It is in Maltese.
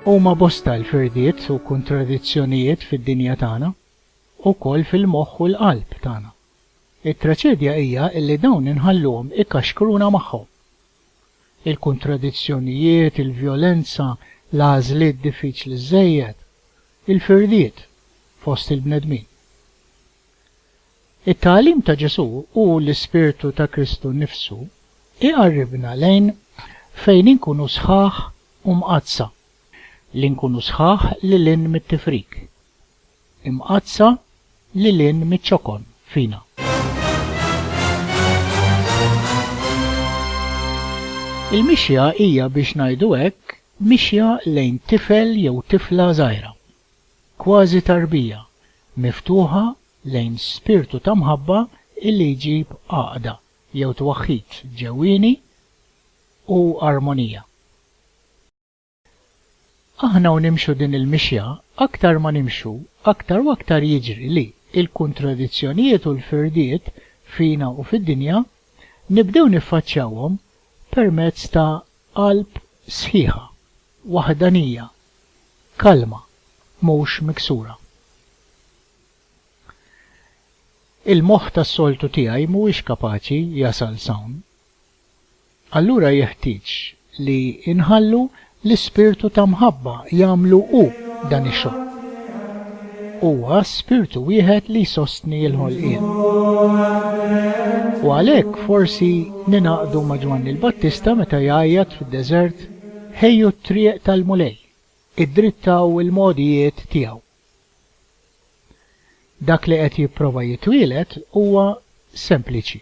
Huma bosta l-firdiet u kuntradizzjonijiet fid-dinja tagħna, ukoll fil-moħħ u l-qalb tagħna. It-traċedja hija li dawn inħalluhom ikaxkruna magħhom. Il-kuntradizzjonijiet, il-vjolenza, l-għażliet diffiċli żżejjed, il-firdiet fost il-bnedmin. It-tagħlim ta' Ġesù u l-ispirtu ta' Kristu nnifsu jqarribna lejn fejn inkunu sħaħ u mqaddsa, li nkunu sħaħ lil hinn mit-tifrik, imqaddsa lil hinn miċ-ċokon fina. Il-mixja hija biex ngħidu hekk mixja lejn tifel jew tifla żgħira, Kważi tarbija miftuħa lejn spirtu ta' mħabba illi jġib għaqda jew twaħħid ġewwieni u armonija. Aħna u nimxu din il-mixja, aktar ma nimxu, aktar u aktar jiġri li l-kuntradizzjonijiet u l-firdiet fina u fid-dinja nibdew niffaċċjawhom permezz ta' Qalb sħiħa, waħdanija, kalma, mhux miksura. Il-moħħ tas-soltu tiegħi mhuwiex kapaċi jasal s'hawn. Allura jeħtieġ li nħallu l-ispirtu ta' mħabba jagħmlu hu dan ix-xogħol. Huwa spirtu wieħed li jsostni l-ħolqien. U għalhekk forsi ningħaqdu ma' Ġwanni l-Battista meta jgħajjat fid-deżert, Ħejju t-triq tal-Mulej, iddrittaw il-mogħdijiet tiegħu. Dak li qed jipprova jitwieled huwa sempliċi.